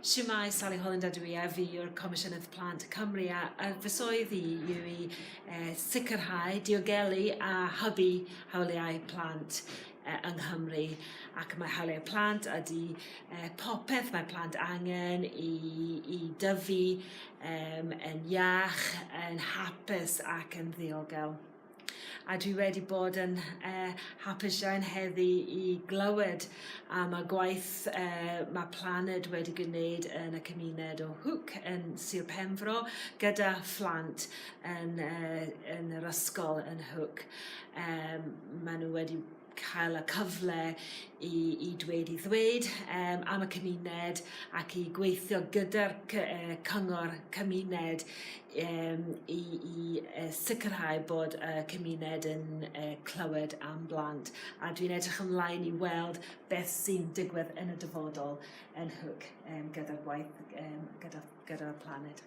Shwmae, Sally Holland ydw i a fi yw'r Comisiynydd Plant Cymru a, a fy swydd i yw i e, sicrhau diogelu a hybu hawliau plant e, yng Nghymru ac mae hawliau plant ydy e, popeth mae plant angen i, i dyfu e, yn iach, yn hapus ac yn ddiogel. a dwi wedi bod yn uh, hapus iawn heddi i glywed am y gwaith uh, mae Planed wedi gwneud yn y cymuned o Hwc yn Sir Penfro gyda phlant yn, uh, yn yr ysgol yn Hwc. Um, maen nhw wedi cael y cyfle i i dweud 'i ddweud yym am y cymuned ac i gweithio gyda'r cy- yy cyngor cymuned yym i i yy sicirhau bod y cymuned yn yy clywed am blant a dwi'n edrych ymlaen i weld beth sy'n digwydd yn y dyfodol yn Hook yym gyda'r gwaith yym gyda gyda'r planed.